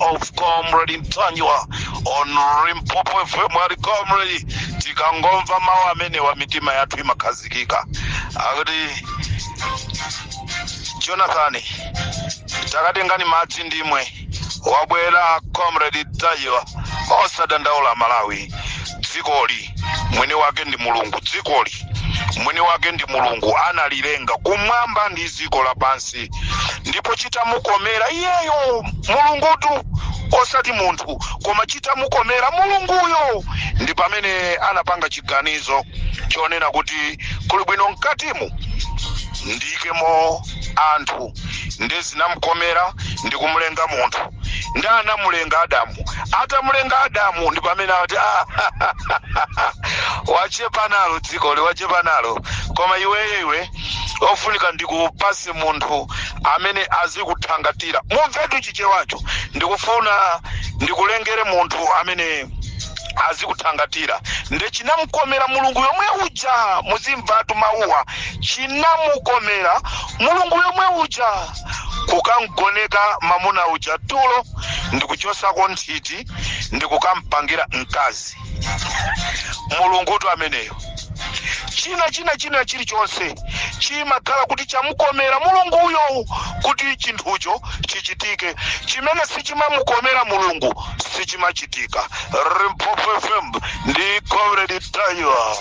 of comrade Mtanyiwa on Limpopo FM ali comrade tikangomva mawu amenewa mitima yathu imakhazikika akuti Jonathan takatengani madzi ndimwe wabwera comrade Mtanyiwa osadandaula Malawi dzikoli mwini wake ndi mulungu dzikoli mwini wake ndi mulungu analilenga kumwamba ndi dziko lapansi ndipo chitamukomera iyeyo mulungutu osati munthu koma chitamukomera mulunguyo ndi pamene anapanga chiganizo chonena kuti kuli bwino mkatimu ndiyikemo anthu nde zinamukomera ndi kumulenga munthu ndi anamulenga adamu atamulenga adamu ndi pamene ati "Ah, wachepa nalo dzikoli wachepa nalo koma iwe iwe ofunika ndikupase munthu amene azikuthangatira mumvetu chichewacho ndikufuna ndikulengere munthu amene azikuthangatira nde chinamkomera mulungu yomwe uja muzimvatu mawuwa chinamukomera mulungu yomwe uja kukamgoneka mamuna uja tulo ndikuchosako nthiti ndikukampangira mkazi mulungutu ameneyo china china china chilichonse chimakhala kuti chamukomera mulunguyo kuti chinthucho chichitike chimene sichimamukomera mulungu sichimachitika Limpopo FM ndi comrade Mtanyiwa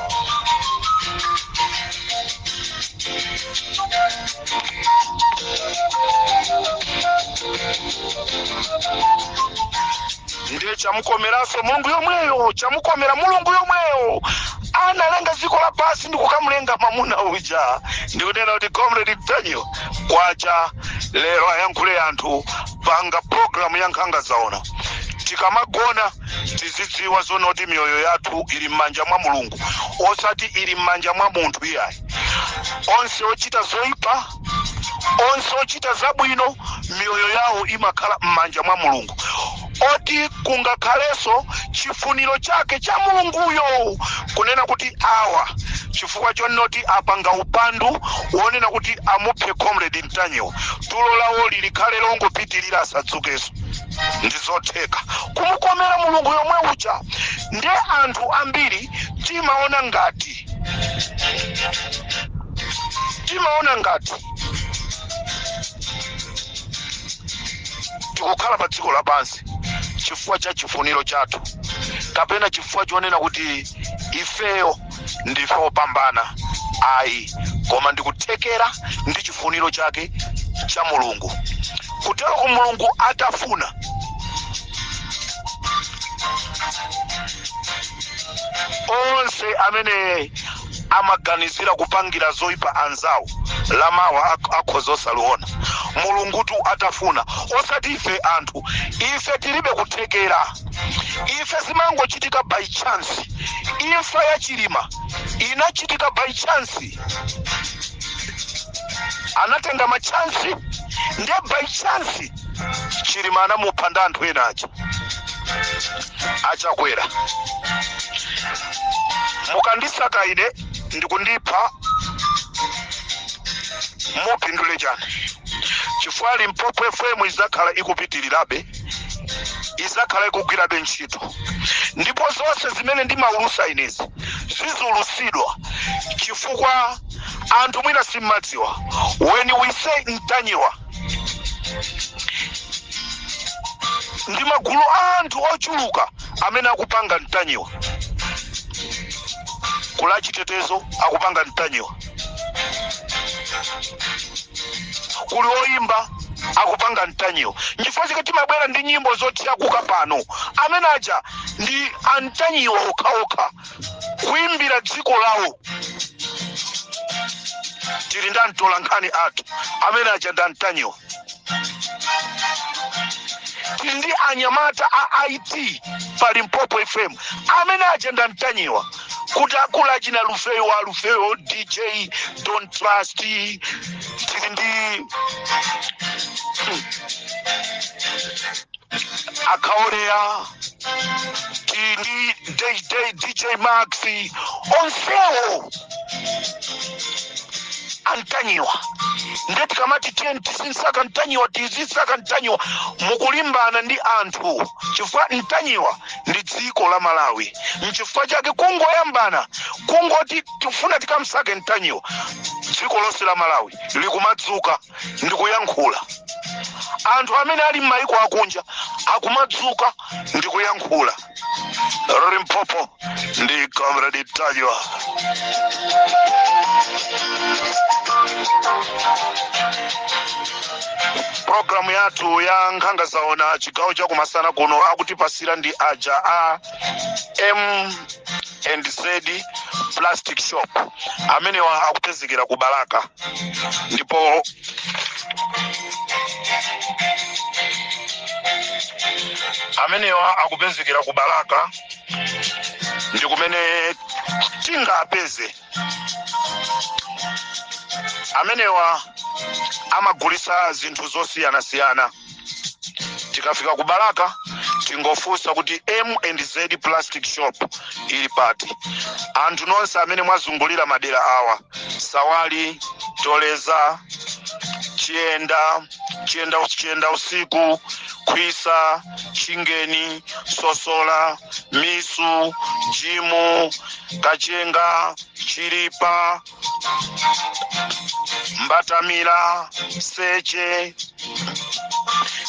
ndiye chamukomeraso mulungu yomweyo chamukomera mulungu yomweyo analenga dziko lapansi ndi kukamulenga mamuna uja ndikunena kuti comrade Mtanyiwa kwacha lero ayankhule anthu panga programu ya nkhanga zaona tikamagona tizidziwa zonena kuti miyoyo yathu ili m'manja mwa mulungu osati ili m'manja mwa munthu iyayi onse ochita zoyipa onse ochita zabwino miyoyo yawo imakhala m'manja mwa mulungu oti kungakhalenso chifuniro chake cha mulunguyo kunena kuti awa chifukwa chonena kuti apanga upandu wonena kuti amuphe comrade Mtanyiwa tulo lawoli likhale longopitirira asadzukeso ndi zotheka kumukomera mulungu yomwe uja nde anthu ambiri timaona ngati timaona ngati tikukhala pa dziko lapansi chifukwa cha chifuniro chathu kapena chifukwa chonena kuti ifeyo ndife opambana ayi koma ndikuthekera ndi chifuniro chake cha mulungu kuteroko mulungu atafuna onse amene amaganizira kupangira zoyipa anzawo lamawa ak- akhoza osaliona Mulungutu atafuna osati ife anthu ife tilibe kuthekera ife zimangochitika by chance imfa ya chilima inachitika by chance anatenga machansi nde by chance chilima anamupha ndi anthu ena aja achakwera mukandisaka ine ndikundipha mupindule chani chifukwa limpopo fm izakhala ikupitirirabe izakhala ikugwirabe ntchito ndipo zonse zimene ndimaulusa inezi zizaulusidwa chifukwa anthu mwina simmadziwa when we say mtanyiwa ndi magulu a anthu ochuluka amene akupanga mtanyiwa kula chitetezo akupanga mtanyiwa kuli oyimba akupanga mtanyiwa nchifukwa chake timabwera ndi nyimbo zothyakuka pano amene aja ndi amtanyiwa okhaokha kuimbira dziko lawo tili ndi amtolankhani athu amene aja ndi amtanyiwa ndi anyamata a it pa limpopo fm amene aja ndi amtanyiwa kuti akula achina lufeyo wa lufeyo dj don trust tili ndi akaoleya tili ndi dj dj max onsewo antanyiwa nde tikamati tiyeni tizinsaka ntanyiwa tizinsaka ntanyiwa mukulimbana ndi anthu chifukwa ntanyiwa ndi dziko la malawi mchifukwa chake kungoyambana kungoti tifuna tikamsake ntanyiwa dziko lonse la malawi likumadzuka ndi kuyankhula anthu amene ali m'mayiko akunja akumadzuka ndikuyankhula limpopo ndi comrade ntanyiwa programu yathu ya nkhanga zaona chigawo chakumasana kuno akutipatsira ndi aja a m and z plastic shop amenewa akupezekera ku balaka ndipo amenewa akupezekera ku balaka ndi kumene tingapeze amenewa amagulisa zinthu zosiyanasiyana tikafika ku balaka tingofunsa kuti m and z plastic shop ili pati anthu nonse amene mwazungulira madera awa sawali toleza chiyenda chiyenda us- chiyenda usiku kwisa chingeni sosola misu jimu kachenga chilipa mbatamira seche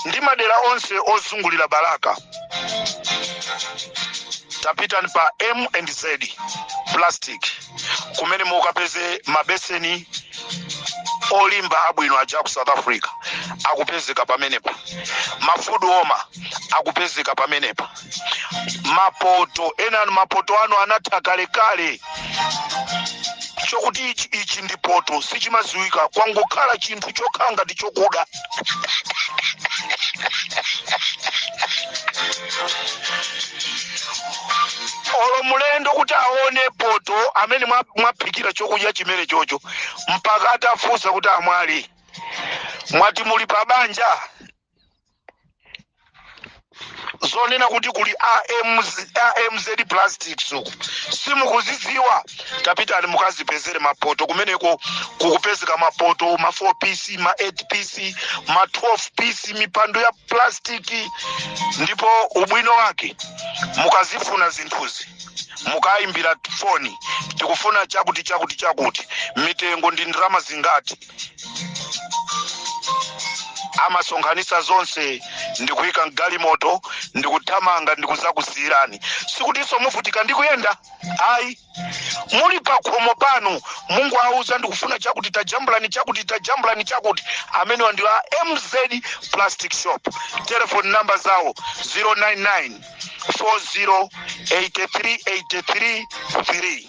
ndi madera onse ozungulira balaka tapitani pa m and z plastic kumene mukapeze mabeseni olimba abwino aja a ku south africa akupezeka pamenepa mafudu oma akupezeka pamenepa mapoto enanu mapoto anu anatha kalekale chokuti ichi ichi ndi poto sichimadziwika kwangokhala chinthu chokhala ngati chokuda olo mlendo kuti aone poto amene mwa- mwaphikira chokudya chimene chocho mpaka atafunsa kuti amwali mwati muli pa banja zonena kuti kuli AMZ, amz plastics uku simukuzidziwa tapitani mukadzipezere mapoto kumeneko kukupezeka mapoto ma 4 pc ma 8 pc ma 12 pc mipando ya plastiki ndipo ubwino wake mukazifuna zinthuzi mukayimbira foni tikufuna chakuti chakuti chakuti mitengo ndi ndalama zingati amasonkhanitsa zonse ndikuyika mgalimoto ndikuthamanga ndikudzakusiyirani sikutinso muvutika ndikuyenda ayi muli pakhomo panu mungowauza ndikufuna chakuti tajambulani chakuti tajambulani chakuti amenewa ndi a mz plastic shop telefoni namba zawo 099 40 83 83 3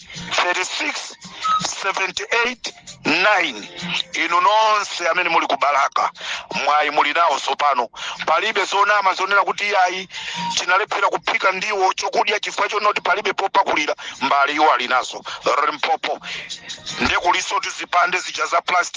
36 78 9 inu nonse amene muli ku balaka mwayi muli nawo tsopano palibe zonama zonena kuti iyayi tinalephera kuphika ndiwo chokudya chifukwa chonoti palibe popakulira mbale iwo ali nazo limpopo nde kulinso tizipande zija za plastic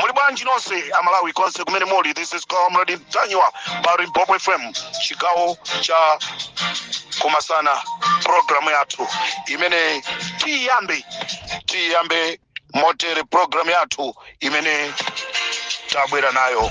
muli bwanji nonse amalawi konse kumene muli this is comrade mtanyiwa pa limpopo fm chigawo cha kumasana programu yathu imene tiyambe tiyambe motere programu yathu imene tabwera nayo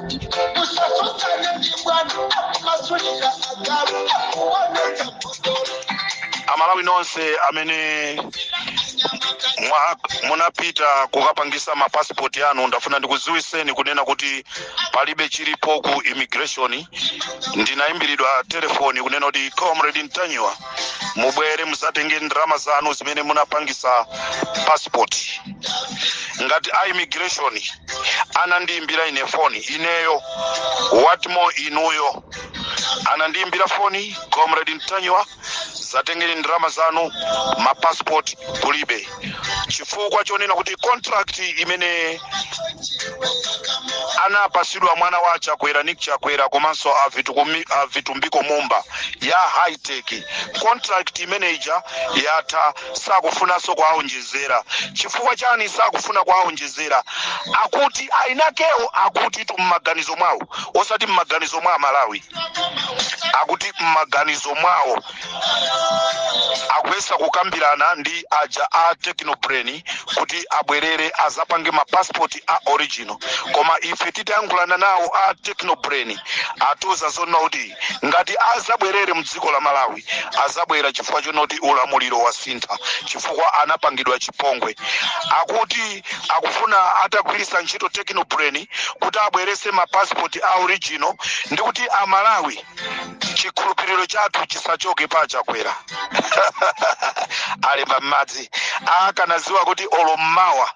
amalawi nonse amene munapita kukapangisa mapasipoti anu ndafuna ndikudziwiseni kunena kuti palibe chilipo ku immigration ndinayimbiridwa telefoni kunena kuti comrade mtanyiwa mubwere muzatenge ndalama zanu zimene munapangisa pasipoti ngati a immigration anandiimbira ine foni ineyo what more inuyo anandiimbira foni comrade mtanyiwa zatengeni ndalama zanu mapassport kulibe chifukwa chonena kuti contract imene anapasidwa mwana wa chakwera nick chakwera komanso a vitumbiko mumba ya hightech contract imene ija yatha sakufunanso kuwaonjezera chifukwa chani sakufuna kuwaonjezera akuti ainakewo akuti tu mmaganizo mwawo osati mmaganizo mwa amalawi akuti mmaganizo mwawo akuyesa kukambirana ndi aja a technobrain kuti abwerere azapange mapasipoti a original koma ife titayankhulana nawo a technobrain atiuza zonna kuti ngati azabwerere mdziko la malawi azabwera chifukwa chonoti ulamuliro wasintha chifukwa anapangidwa chipongwe akuti akufuna atagwiritsa ntchito technobrain kuti abwerese mapasipoti a original ndi kuti amalawi chikhulupiriro chathu chisachoke pa achakwera alemba m'madzi akanaziwa kuti olo mmawa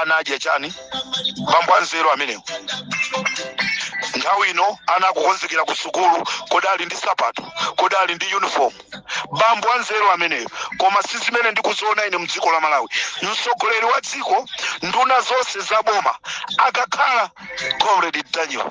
ana anadya chani bambo anzeru amenewo nthawi ino ana akukonzekera ku sukulu kodi ali ndi sapato kodi ali ndi uniform bambo anzeru ameneyo koma si zimene ndikuziona ine mdziko la malawi mtsogoleri wa dziko nduna zonse za boma akakhala comrade mtanyiwa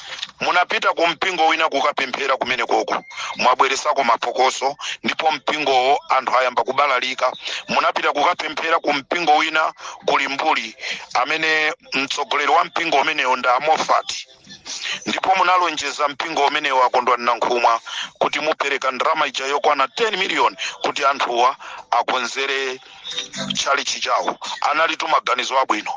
munapita ku mpingo wina kukapemphera kumene koko mwabweresako mapokoso ndipo mpingowo anthu ayamba kubalalika munapita kukapemphera ku mpingo wina kuli mbuli amene mtsogoleri wa mpingo umenewo ndi a mofati ndipo munalonjeza mpingo umenewo a kondwani nankhumwa kuti mupereka ndalama ija yokwana 10 miliyoni kuti anthuwa akonzere tchalichi chawo analitu maganizo abwino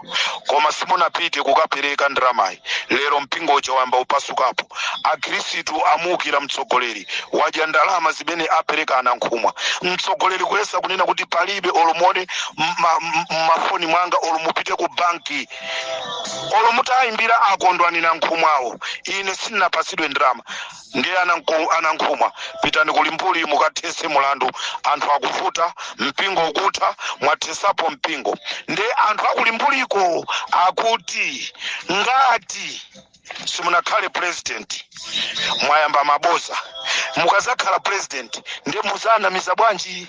koma simunapite kukapereka ndalamayi lero mpingo uja wayamba upasukapo akhristu amuukira mtsogoleri wadya ndalama zimene apereka anankhumwa mtsogoleri kuyesa kunena kuti palibe olo muone mmafoni mwanga olo mupite ku banki olo mutayimbira a Kondwani Nankhumwawo ine sinapasidwe ndalama ndiye ananko- anankhumwa pitani ku limbuli mukathese mulandu anthu akuvuta mpingo ukutha mwathesapo mpingo ndiye anthu akulimbuliko akuti ngati simunakhale president mwayamba maboza mukazakhala president ndiye muzawanamiza bwanji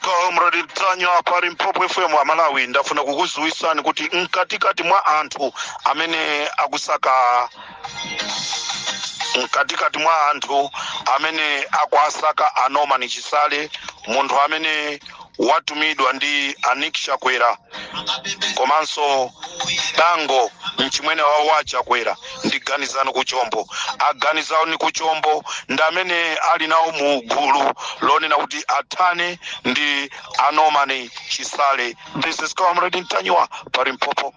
comrade ntanyiwa pa limpopo fm amalawi ndafuna kukudziwitsani kuti mkatikati mwa anthu amene akusaka mkatikati mwa anthu amene akwasaka a Norman Chisale munthu amene watumidwa ndi a Nick chakwera komanso dango mchimwene wawo wa chakwera ndi ganizani kuchombo a ganizani kuchombo ndi amene ali nawo mu gulu lonena kuti athane ndi a Norman chisale this is comrade ntanyiwa pa limpopo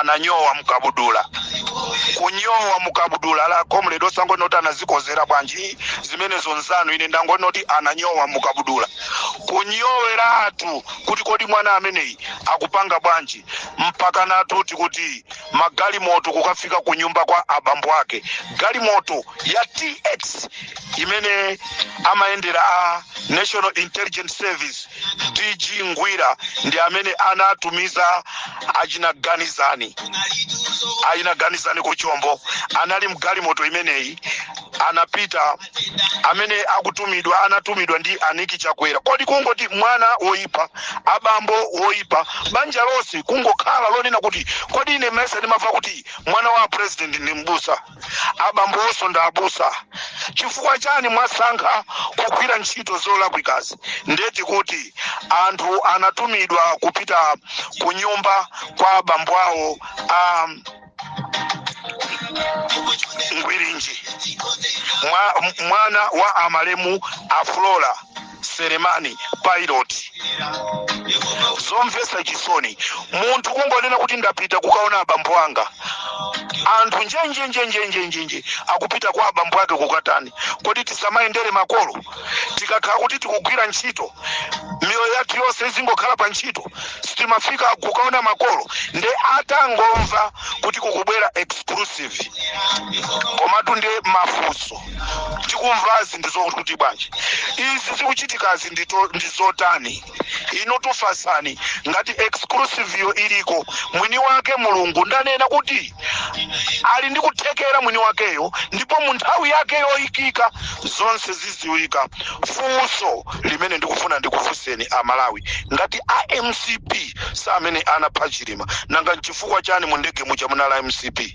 ananyowa mukabudula kunyowa mukabudula ah comrade osangonena kuti anazikozera bwanji zimenezo nzanu ine ndangonena kuti ananyowa mukabudula kunyoweratu kuti kodi mwana ameneyi akupanga bwanji mpaka natuti kuti magalimoto kukafika ku nyumba kwa abambo ake galimoto ya tx imene amayendera a national intelligence service dg ngwira ndi amene anatumiza achina ganizani achina ganizani kuchombo anali mgalimoto imeneyi anapita amene akutumidwa anatumidwa ndi a Nick chakwera kodi kungoti mwana woyipa abambo woyipa banja lonse kungokhala lonena kuti kodi ine mesa ndimamva kuti mwana wa president ndi mbusa abambo awonso ndi abusa chifukwa chani mwasankha kugwira ntchito zolakwikazi ndeti kuti anthu anatumidwa kupita ku nyumba kwa abambo awo a ngwirinji Mwa, mwana wa amalemu aflora selemani pilot zomvesa chisoni munthu kungonena kuti ndapita kukaona abambo anga anthu njenjenjenjenjenjenje akupita kwa abambo ake kukatani kodi tisamayendere makolo tikakhala kuti tikugwira ntchito miyoyo yathu yonse izingokhala pa ntchito sitimafika kukaona makolo nde atangomva kuti kukubwera exclusive komatu ndi mafunso tikumvazi ndi zokuti bwanji izi zikuchitikazi ndi zotani inutu fasani ngati exclusive yo iliko mwini wake mulungu ndanena kuti ali ndi kuthekera mwini wakeyo ndipo mu nthawi yake yoyikika zonse ziziwika funso limene ndikufuna ndikufunseni amalawi ngati a mcp samene anapha chilima nanga nchifukwa chani mu ndege muja munala mcp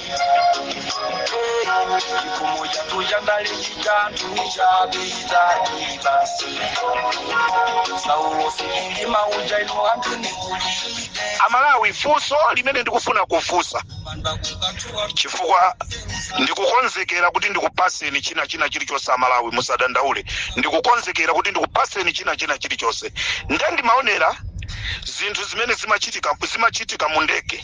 chikoma chathu cha ndale chitathu chapita basi saulos chilima uja ino anthu ndikulibe amalawi funso limene ndikufuna kufunsa chifukwa ndikukonzekera kuti ndikupaseni china china chilichonse amalawi musadandaule ndikukonzekera kuti ndikupaseni china china chilichonse nde ndimaonera zinthu zimene zimachitika mu ndege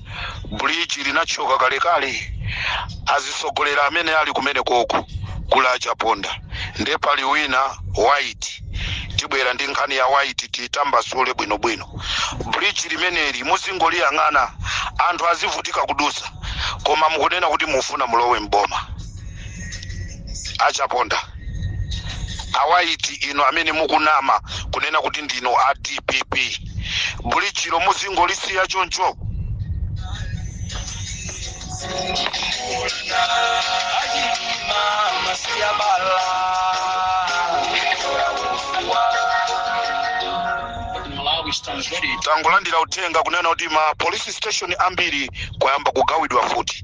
bridge linathyoka kalekale azitsogoleri amene ali kumene koko kuli a chaponda nde pali wina waiti tibwera ndi nkhani ya waiti titambasule bwinobwino bridge limeneli muzingoliyang'ana anthu azivutika kudusa koma mukunena kuti mufuna mulowe mboma a chaponda a waiti inu amene mukunama kunena kuti ndinu a dpp bridge lo muzingolisiya choncho tangolandira uthenga kunena kuti ma police station ambiri kwayamba kugawidwa mfuti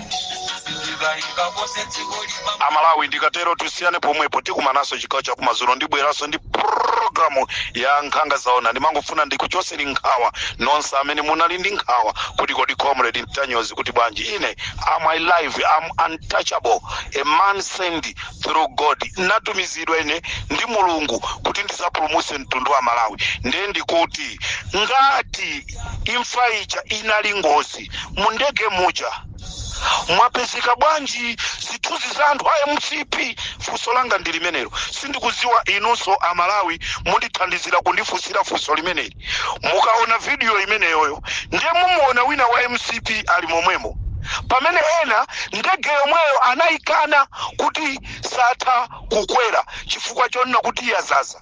amalawi ndikatero tusiyane pomwepo tikumanaso chigawo chakumadzulo ndibweranso ndi programu ya nkhanga zaona ndimangofuna ndikuchoseni nkhawa nonse amene munali ndi nkhawa kuti kodi comrade ntanyozi kuti bwanji ine am alive am untouchable a man sent through god ndatumizidwa ine ndi mulungu kuti ndizapulumuse mtundu wa malawi ndiye ndikuti ngati imfa ija inali ngozi mu ndege muja mwapezeka bwanji zithunzi za anthu a mcp funso langa ndi limenelo sindikudziwa inunso amalawi mundithandizira kundifunsira funso limeneli mukaona vidiyo imeneyoyo ndiye mumuona wina wa mcp ali momwemo pamene ena ndege yomweyo anayikana kuti satha kukwera chifukwa chonena kuti yazaza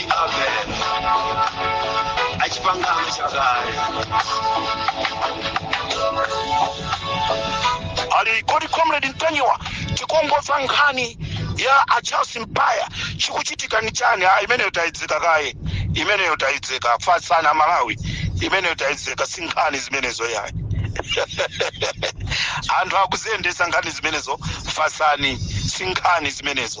ali kodi comrade mtanyiwa tikongoza nkhani ya a charles mpaya chikuchitika ni chani ah, imeneyo tayidzeka kaye imeneyo tayidzeka fatsani a malawi imeneyo tayidzeka si nkhani zimenezo yayi anthu akuziyendetsa nkhani zimenezo fatsani si nkhani zimenezo